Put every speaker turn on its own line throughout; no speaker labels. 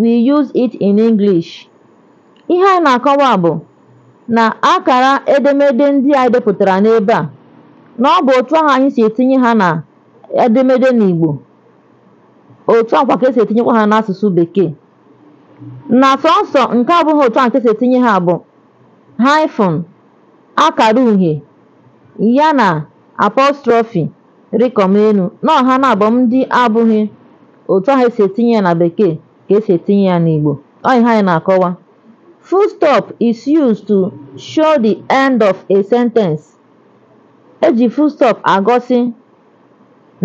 we use it in English. Ihe anyị na-akọwa bụ na akara edemede ndị anyị depụtara n'ebe a na ọ bụ otu ahụ anyị si etinye ha na edemede n'Igbo otu a kwa ka esi etinyekwa ha n'asụsụ bekee na sọnsọ nke abụghị otu ahụ ka esi etinye ha bụ hyphen akara uhie ya na apostrophe rịkọm elu na ọ ha naabụ ndị abụghị otu ahụ esi etinye ya na bekee ka esi etinye ya n'Igbo ọ ihe anyị na-akọwa full stop is used to show the end of a sentence eji full stop agosi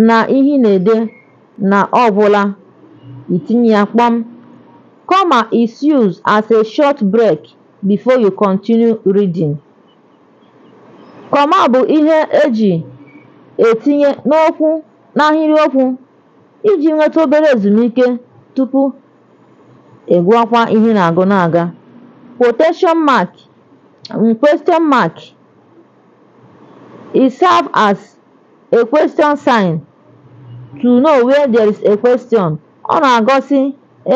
na ihe ị na-ede na ọ gwụla itinye ya kpọm comma is used as a short break before you continue reading Comma bụ ihe e ji etinye n'okwu n'ahịrịokwu iji nweta obere ezumike tupu ị gụọkwa ihe ị na-agụ na-aga. Quotation mark and question mark it serve as a question sign to know where there is a question. Ọ na-agosi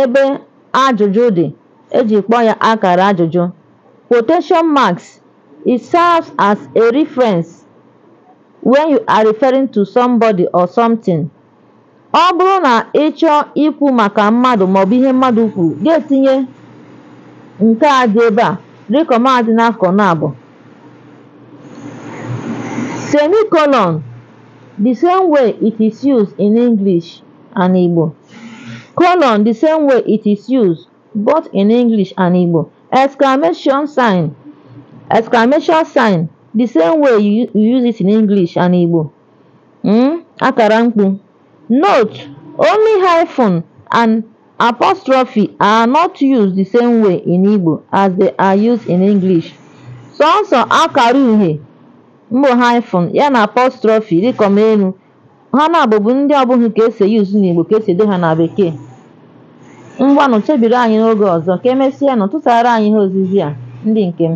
ebe ajụjụ dị eji kpọọ ya akara ajụjụ. Quotation marks, It serves as a reference when you are referring to somebody or something. Ọ bụrụ na ị chọọ ikwu maka mmadụ maọbụ ihe mmadụ kwuru, ị ga-etinye nke a dị ebe a rịkọm a dị n'akụkụ naabụ. Semicolon, the same way it is used in English and Igbo. Colon, the same way it is used both in English and Igbo. Exclamation sign. Exclamation sign. The same way you, you use it in English and Igbo. Mm? Akara mkpu. Note, only hyphen and apostrophe are not used the same way in Igbo as they are used in English. Sọnsọ akara uhie mbụ hyphen ya na apostrophe dịkọm elu ha naabụ bụ ndị ọ bụghị ka esi use n'Igbo ka esi ede ha na Bekee ngwanụ chebiri anyị n'oge ọzọ ka emesịa nụ tụtara anyị ihe ozizi a ndị nke m